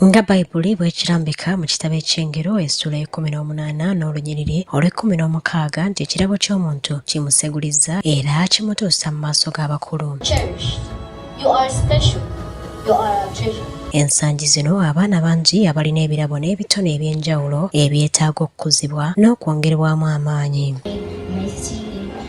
nga bayibuli bwekirambika mu kitabo ekyengero essula ekumi n'omunaana n'olunyiriri olw'ekkumi n'omukaaga nti ekirabo ky'omuntu kimusegulizza era kimutuusa mu maaso g'abakulu ensangi zino abaana bangi abalina ebirabo n'ebitone eby'enjawulo ebyetaaga okukuzibwa n'okwongerwamu amaanyi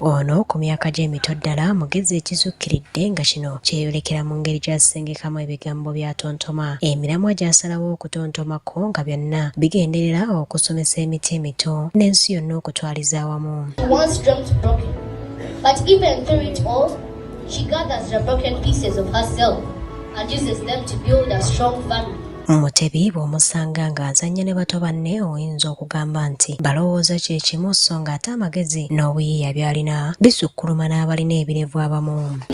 Ono ku myaka gye mito ddala mugezi ekizukkiridde nga kino kyeyolekera mu ngeri gy'asengekamu ebigambo by'atontoma. Emiramwa gy'asalawo okutontomako nga byonna bigenderera okusomesa emiti emito n'ensi yonna okutwaliza awamu. But even through it all, she gathers the broken pieces of herself and uses them to build a strong family. Mutebi bw'omusanga ng'azannya ne bato banne oyinza okugamba nti balowooza kye kimu so ng'ate amagezi n'obuyiiya by'alina bisukkuluma n'abalina ebirevu abamu.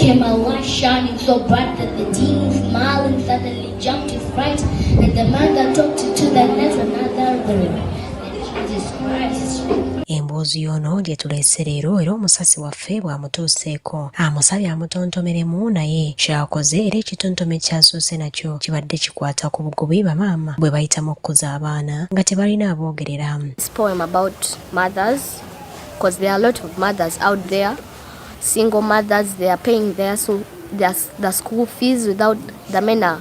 Emboozi y'ono gye tuleese leero era omusasi waffe waffe bw'amutuuseeko amusabye amutontomeremu naye kyakoze era ekitontome kyasoose nakyo kibadde kikwata ku bugubi bamaama bwe bayitamu okukuza abaana nga tebalina aboogerera because there are a lot of mothers out there, single mothers, they are paying their, their, their school fees without the men are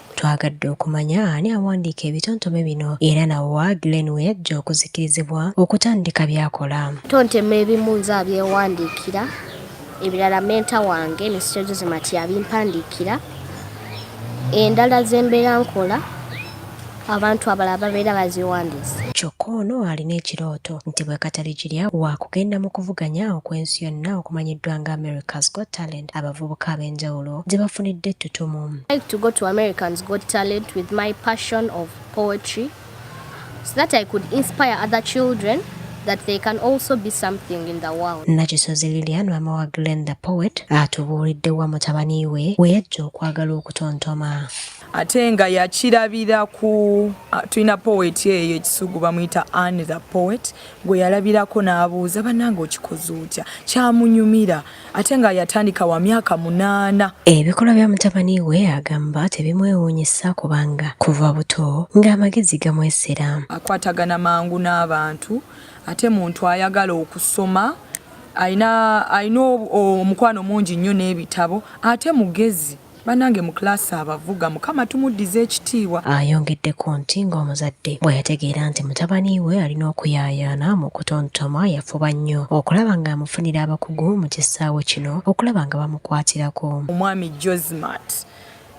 Twagadde okumanya ani awandiika ebitontome bino era nawa Glen we yajja okuzikirizibwa okutandika byakola. Tontema ebimu nze abyewandiikira, ebirala menta wange Mister Jose Mati abimpandiikira, endala zembeera nkola abantu abalala babeera baziwandiisa. Kyokka ono alina ekirooto nti bwekataligirya waakugenda mu kuvuganya okw'ensi yonna okumanyiddwa nga America's Got Talent. abavubuka ab'enjawulo gye bafunidde ettutumu. like to go to Americans Got Talent with my passion of poetry so that I could inspire other children that they can also be something in the world. Nakisozi Lilian mama wa Glen the poet atubuulidde wa mutabani we we yajja okwagala okutontoma ate nga yakirabira ku ah, tulina poet eyo ekisugu bamuyita an the poet gwe yalabirako n'abuuza bannanga okikoze otya kyamunyumira ate nga yatandika wa myaka munaana. Ebikolwa bya mutabani we agamba tebimwewuunyisa kubanga kuva buto ng'amagezi gamwesera. Akwatagana mangu n'abantu ate muntu ayagala okusoma alina omukwano mungi nnyo n'ebitabo ate mugezi. Banange mu class abavuga mukama tumuddize ekitiibwa. Ayongeddeko nti ng'omuzadde bwe yategeera nti mutabani we alina okuyaayaana mu kutontoma yafuba nnyo okulaba ng'amufunira abakugu mu kisaawe kino okulaba nga bamukwatirako. Omwami Josmat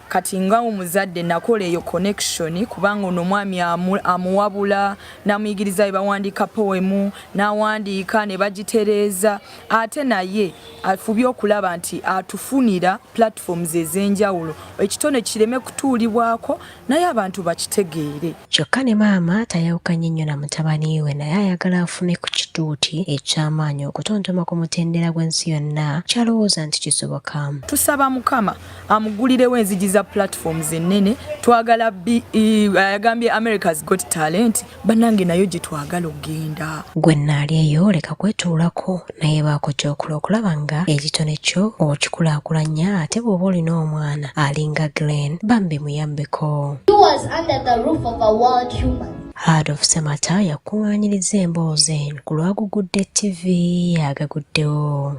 kati nga omuzadde nakola eyo connection kubanga ono omwami amuwabula namuyigiriza bwe bawandiika powemu nawandiika ne bagitereeza ate naye afubye okulaba nti atufunira platforms ez'enjawulo ekitone kireme kutuulibwako naye abantu bakitegeere kyokka ne maama tayawukanye nnyo na mutabani we naye ayagala afune ku kituuti eky'amaanyi okutontoma ku mutendera gw'ensi yonna kyalowooza nti kisoboka tusaba mukama amugulirewo enzigi za platforms ennene twagala e, ayagambye america's got talent banange nayo gyetwagala okugenda gwe naali eyo leka kwetuulako naye baako kyokola okulaba nga ekitone kyo okikulakulanya ate bw'oba olina omwana alinga glen bambi muyambeko Heard of Semata yakuŋŋaanyiriza emboozi eno ku lwagugudde TV agaguddewo.